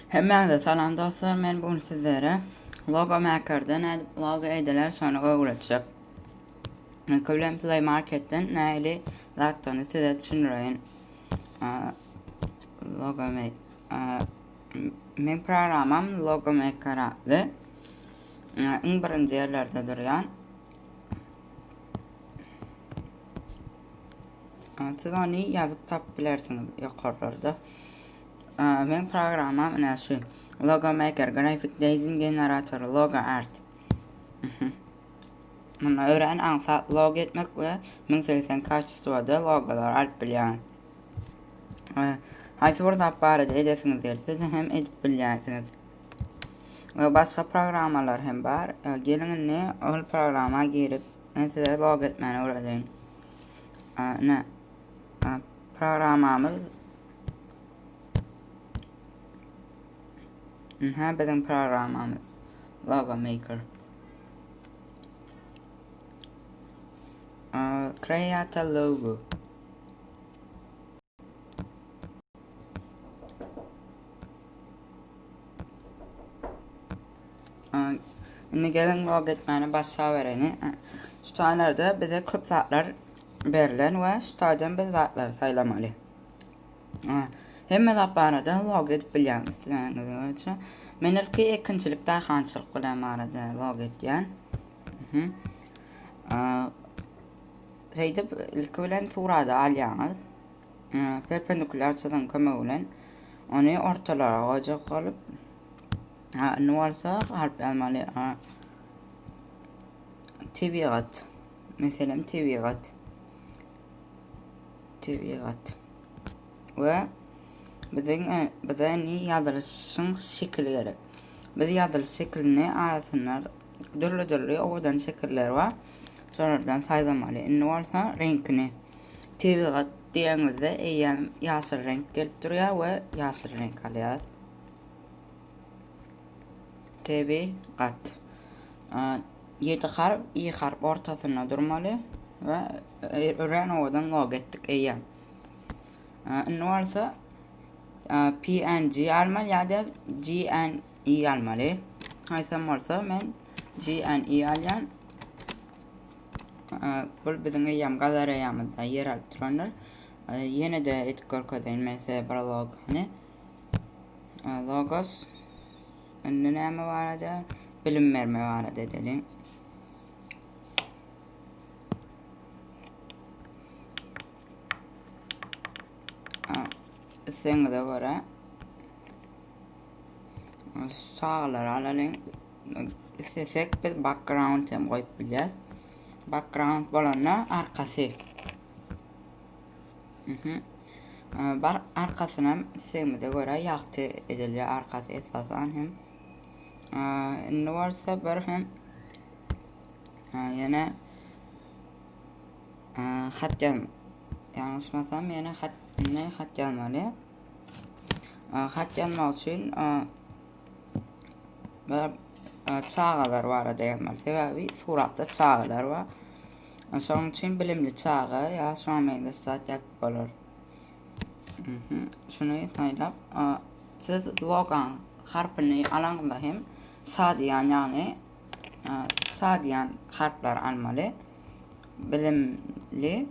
Hemmäňize salam dostlar men bugün sizlere logo makerden nädip logo ediler şony öwretjek. Ilki bilen play marketden näli zatdygyny size düşündireýin. Logo make men programam logo maker atly. Iň birinji ýerlerde durýan. Siz ony ýazyp tapyp bilersiňiz ýokarlarda. Meň programmam ine şu. Logo Maker, Graphic Design Generator, Logo Art. Munda öwren aňsa logo etmek we 1080 kaçistwada logolar alyp bilýän. Haýsy bir zat barada edesiňiz gelse hem edip bilýärsiňiz. We başga programmalar hem bar. Gelin indi ol programma girip Men size log etmäni öwredeýin. Ine programmamyz Ine biziň programmamyz Logo Maker. Create a logo. Şimdi gelin log etmeni başa vereni. Şutalarda bize köp zatlar berlen ve şutadan biz zatlar saylamalı. Hemme zat barada log edip bilyan isteyenizin için. Men ilki ekinçilik dahançılık bilen barada log etyen. Hı -hı. Şeýdip, ilki bilen surady alýaňyz. Perpendikular çyzygyň kömegi bilen ony ortalara goýjak bolup, indi bolsa harp ýazmaly. Tebigat. Meselem, tebigat. Tebigat. Ve biziň e, bize indi ýazylyşyň şekili gerek. Biz ýazylyş şekilini arasynda Dürli-dürli owadan şekiller bar. Şolardan saýlamaly. Indi bolsa reňkini. Tebigat diýeňizde eýýäm ýaşyl reňk gelip durýar we ýaşyl reňk alýarys. Tebigat. Ýedi harp, i harp ortasynda durmaly we örän owadan logo etdik eýýäm. Indi bolsa PNG almaly ýa-da GNG i almaly. Aýtsam bolsa men GNI alýan. Bul biziň eýýäm galereýamyzda ýer alyp durandyr. Ýene de etip görkezeýin men size bir logany. Logos. Indi näme barada? Bilim berme barada edelim. Isleňize görä Çagalar alalyň. Istesek biz background hem goýup bilýär. Background bolanda arkasy. Mhm. Bar arkasyny hem istegimize görä ýagty edilýär arkasy esasan hem. Indi bolsa bir hem ýene hat ýazmak. Ýalňyşmasam ýene hat ne hat ýazmaly. Hat ýazmak üçin çagalar barada ýazmaly. Sebäbi suratda çagalar bar. Şonuň üçin bilimli çaga ýa şoňa meňzeş zat ýazyp bolar. Mhm. Şuny saýlap, siz logan harpyny alaňyzda hem şadyýan, ýagny şadyýan harplar almaly. Bilimli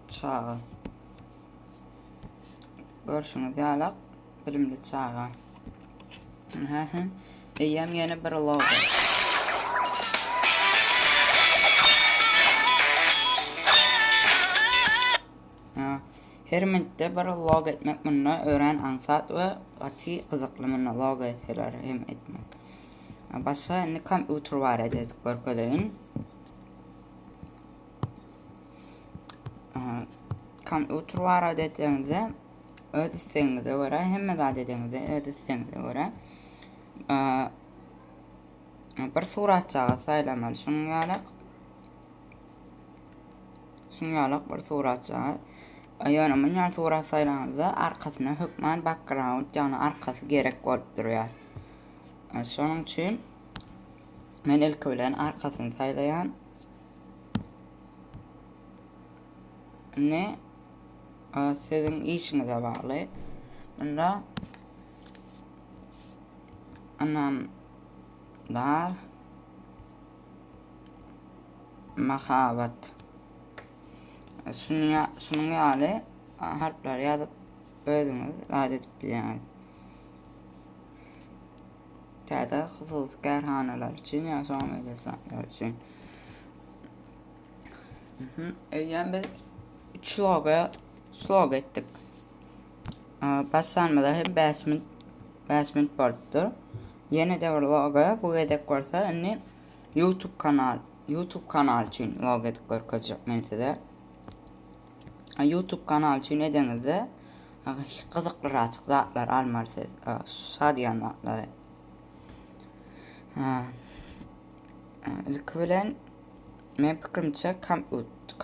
Çaga. Görşüňiz ýalak bilimli çaga. Hä hä. Eýýäm ýene bir logo. Her minutda bir log etmek munda ören aňsat we gaty gyzykly munda log etseler hem etmek. Başga indi kompýuter barada görkezeýin. kompýuter barada etseňizde öz islegiňize görä hemme zat edeňizde öz islegiňize görä bir suratçaga saýlamaly şunuň ýaly şunuň ýaly bir suratçaga ýöne munýan surat saýlanyňyzda arkasyna hökman background ýagny arkasy gerek bolup durýar şonuň üçin Men ilki bilen arkasyny saýlaýan. Indi siziň işiňize bagly. Munda anam dar mahabat. Şunuň şunuň ýaly harplary ýazyp özüňiz zat edip bilýäňiz. täze hususy kärhanalar üçin ýa şoňa meňzeş zatlar üçin. Mhm. Eýýäm biz 3 loga slog etdik. Başlanmada hem 5 minut 5 minut bolupdyr. Ýene de bir loga bu gezek bolsa indi YouTube kanal YouTube kanal üçin log edip görkezjek men size. Youtube kanal üçin edeňizde gyzyklyraçyk zatlar almaly siz. Şa diýen zatlary. Ilki bilen men pikirimçe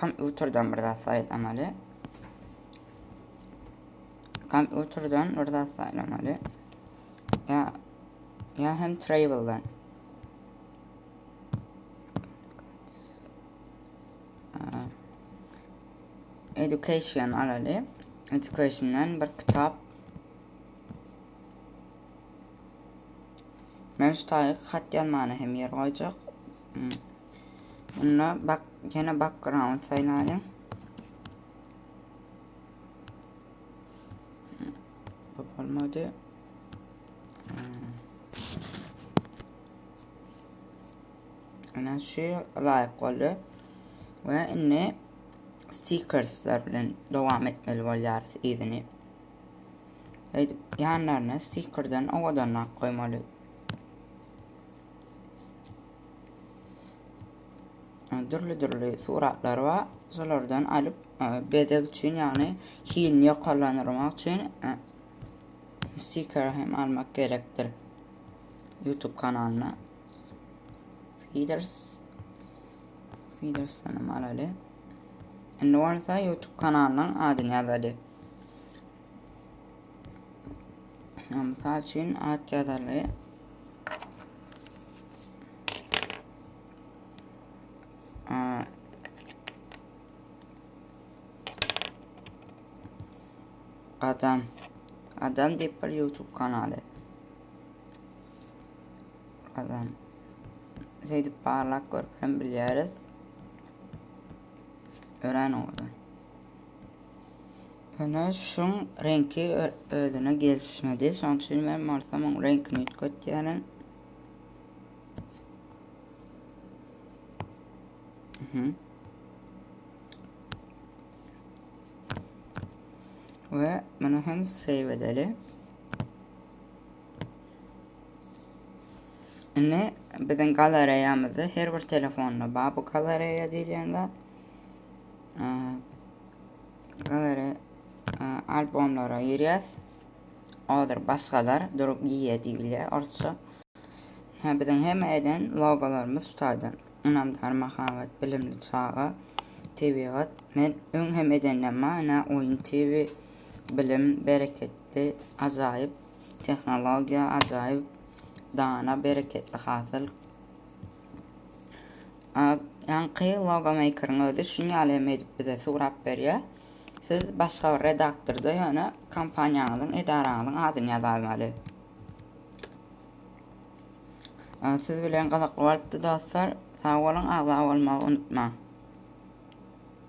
kompýuterden bir zat saýlamaly. Kompýuterden bir zat saýlamaly. Ya ya hem travel'dan. Education alaly. Education'dan bir kitap. Men şu taýy hat ýazmana hem ýer goýjak. Hmm. Bunda bak, ýene background saýlaýyn. Hmm. Bu bolmady. Hmm. Ana şu laýyk boldy. Ve indi stikersler bilen dowam etmeli bolýarys yzyny. Eýdip ýanlaryna stikerden owadanrak goýmaly. Dürli-dürli suratlar bar. Şolardan alyp bezeg üçin, ýagny hilini ýokarlandyrmak üçin stiker hem almak gerekdir. YouTube kanalyna. Feeders. Feeders sanam alaly. Indi bolsa YouTube kanalynyň adyny ýazaly. Mysal üçin at ýazaly. Adam. Adam diýip bir YouTube kanaly. Adam. Şeýdip barlak görüp hem bilýäris. Örän oňada. Öne şun reňki özüne gelişmedi. Şoň üçin men bolsa muň reňkini üýtgetýärin. Mhm. We muny hem save edeli. Indi biziň galareýamyzda her bir telefonda bar bu galareýa diýilýän zat. Galare albomlara girýäs. Odur başgalar durup giýýär diýilýär orsça. Ha biziň hemme eden logolarymyz şu taýda. Ynamdar mahabat, bilimli çaga, tebigat. Men öň hem edenden bar, ina oýun TV, Bilim bereketli ajaýyp tehnologiýa ajaýyp dana bereketli hasyl. Ýaňky logo meýkeriň özi şuny ýaly hem edip bize surap berýä. Siz başga bir redaktorda ýöne kompaniýaňyzyň edaraňyzyň adyny ýazaýmaly. Siz bilen gyzykly bolupdy dostlar. Sag boluň agza bolmagy unutmaň.